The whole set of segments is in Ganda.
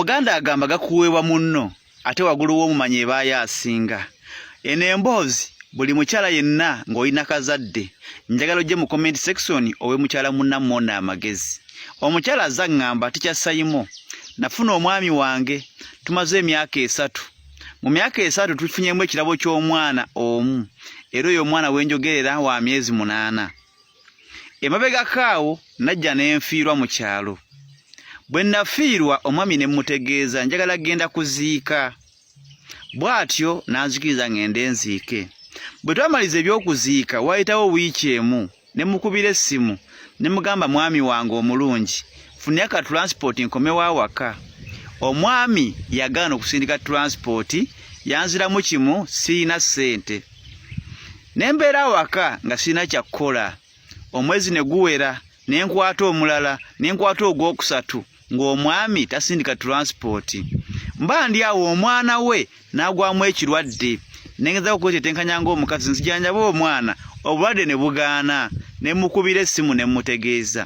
omuganda agamba gakuweebwa munno ate wagulu w'omumanyi ebaayo asinga eno emboozi buli mukyala yenna ng'olina kazadde njagala ojje mu comment section owe mukyala munnammwona amagezi omukyala aza ŋŋamba tikya sayimo nafuna omwami wange tumaze emyaka esatu mu myaka esatu tufunyemu ekirabo ky'omwana omu era oyo omwana wenjogerera wa myezi munaana emabegako awo najja ne nfiirwa mu kyalo bwe nnafiirwa omwami ne mmutegeeza njagala genda kuziika bw'atyo n'anzikiriza ng'ende nziike bwe twamaliza eby'okuziika waayitawo wiiki emu ne mukubira essimu ne mugamba mwami wange omulungi funira ka tulansipoti nkomewo awaka omwami yagaana okusindika tulansipoti yanziramu kimu sirina ssente ne mbeera awaka nga sirina kyakukola omwezi ne guwera ne nkwata omulala ne nkwata ogwokusatu ng'omwami tasindika tulansipooti mba ndi awo omwana we n'agwamu ekirwadde nengeza okwetetenkanya ng'omukazi nzijanjaba omwana obulwadde ne bugaana ne mukubira essimu ne mutegeeza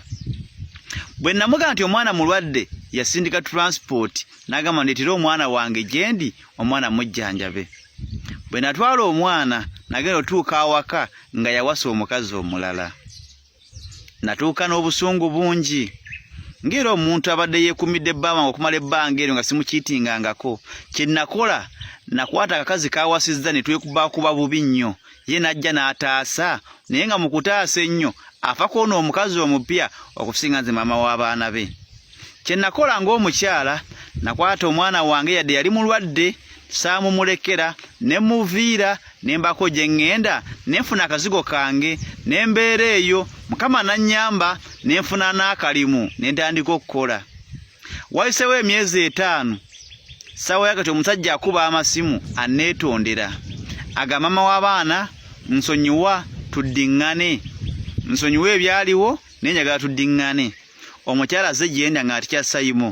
bwe namuga nti omwana mulwadde yasindika tulansipooti n'agamba ndeetera omwana wange gyendi omwana mujjanjabe bwe natwala omwana nagenda otuuka awaka nga yawasa omukazi omulala natuuka n'obusungu bungi ng'era omuntu abadde yeekumidde bbama okumala ebbanga eryo nga simukiitingangako kye nakola nakwata akakazi kawasizza ne twekubakuba bubi nnyo ye n'ajja n'ataasa naye nga mu kutaasa ennyo afa kwona omukazi omupya okusinga nze maama w'abaana be kye nakola ng'omukyala nakwata omwana wange yadde yali mulwadde saamumulekera ne muviira ne mbako gye ŋŋenda ne nfuna akazigo kange ne mbeera eyo mukama nannyamba ne nfuna n'akalimu ne ntandika okukola wayisewo emyezi etaano ssaawa ya kati omusajja akuba amasimu anneetondera aga maama w'abaana nsonyiwa tuddiŋŋane nsonyiwa ebyaliwo naye njagala tuddiŋŋane omukyala aze gyenda nga atikya sayimu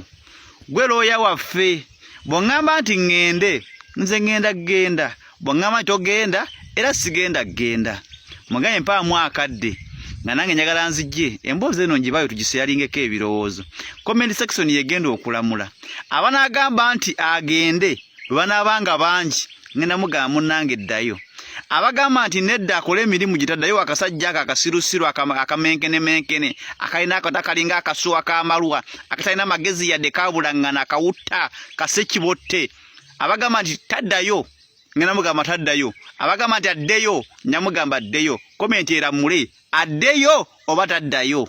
gwe looya waffe bwongamba nti ŋŋende nze ŋŋenda kugenda bwongamba nti ogenda era sigenda kugenda muganye mpaamu akadde nga nange njagala nzijje emboozi eno njibayo tugiseyalingeko ebirowoozo comment section yegenda okulamula abanagamba nti agende bwe banaaba nga bangi ngenda mugamba munnange eddayo abagamba nti nedda akole emirimu gitaddayo akasajja ako akasirusiru akamenkenemenkene akalina akata kalinga akasuwa kamalwa akatalina magezi yadde kabulaŋŋana akawutta kasekibotte abagamba nti taddayo ngenda mugamba taddayo abagamba nti addeyo nyamugamba addeyo komenti eramule addeyo oba taddayo